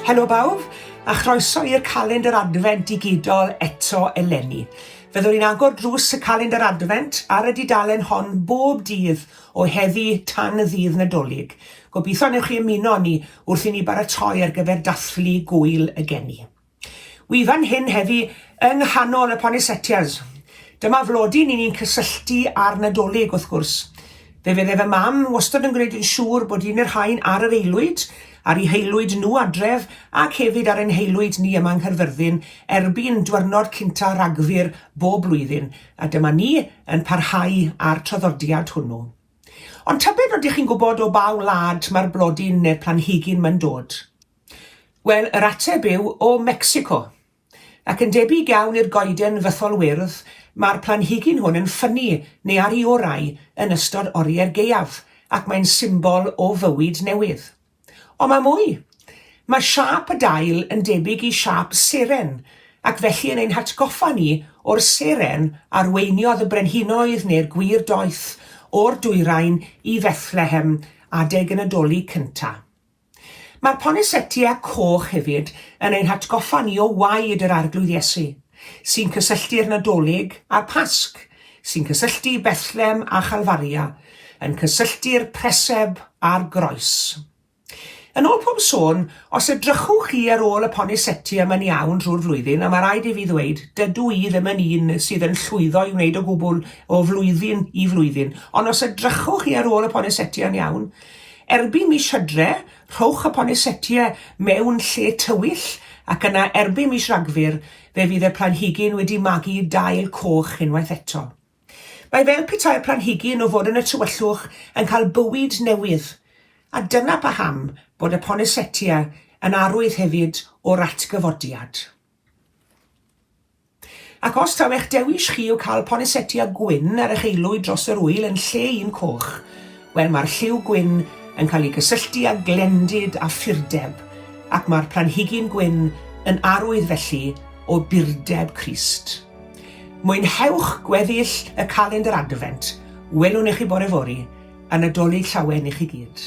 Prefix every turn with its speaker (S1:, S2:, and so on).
S1: Helo bawb, a chroeso i'r calendr adfent digidol eto eleni. Fyddwn ni'n agor drws y calendr adfent ar y dudalen hon bob dydd o heddi tan y ddydd Nadolig. Gobeithio wnewch chi ymuno â ni wrth i ni baratoi ar gyfer dathlu Gŵyl y Geni. Wi fan hyn heddi yng nghanol y Ponisetias. Dyma flodyn i ni'n cysylltu â'r Nadolig, wrth gwrs. Fe fydde fy mam wastod yn gwneud yn siŵr bod un o'r rhain ar yr aelwyd, ar ei haelwyd nhw adref, ac hefyd ar ein haelwyd ni yma yng Nghaerfyrddin, erbyn dwyrnod cynta' Rhagfyr bob blwyddyn, a dyma ni yn parhau â'r traddodiad hwnnw. Ond tybed ydych chi'n gwybod o ba wlad mae'r blodyn neu'r planhigyn mae'n dod? Wel, yr ateb yw o Mecsico. Ac yn debyg iawn i'r goeden fythol wyrdd, mae'r planhigyn hwn yn ffynnu, neu ar i orau, yn ystod oriau'r gaeaf, ac mae'n symbol o fywyd newydd. Ond mae mwy. Mae siâp y dail yn debyg i siâp seren, ac felly yn ein hatgoffa ni o'r seren arweiniodd y brenhinoedd neu'r gwir doeth o'r dwyrain i Fethlehem adeg y Nadolig cynta. Mae'r ponesetia coch hefyd yn ein hatgoffa ni o waed yr Arglwydd Iesu, sy'n cysylltu'r Nadolig a'r Pasg, sy'n cysylltu Bethlem a Chalfaria, yn cysylltu'r preseb a'r groes. Yn ôl pob sôn, os edrychwch chi ar ôl y poniseti yma'n iawn drwy'r flwyddyn, a mae rhaid i fi ddweud, dydw i ddim yn un sydd yn llwyddo i wneud o gwbl o flwyddyn i flwyddyn, ond os edrychwch chi ar ôl y poniseti yn iawn, erbyn mis Hydre, rhowch y ponisetiau mewn lle tywyll, ac yna erbyn mis Ragfyr, Fe fydd y planhigyn wedi magu dail coch unwaith eto. Mae fel petai'r planhigyn o fod yn y tywyllwch yn cael bywyd newydd, a dyna paham bod y Poinsettia yn arwydd hefyd o'r atgyfodiad. Ac os taw eich dewis chi yw cael Poinsettia gwyn ar eich aelwyd dros yr ŵyl yn lle un coch, Wel, mae'r lliw gwyn yn cael ei gysylltu â glendid a phurdeb, ac mae'r planhigyn gwyn yn arwydd felly o burdeb Crist. Mwynhewch gweddill y calendr Adfent, welwn i chi bore fory, a Nadolig Llawen i chi gyd.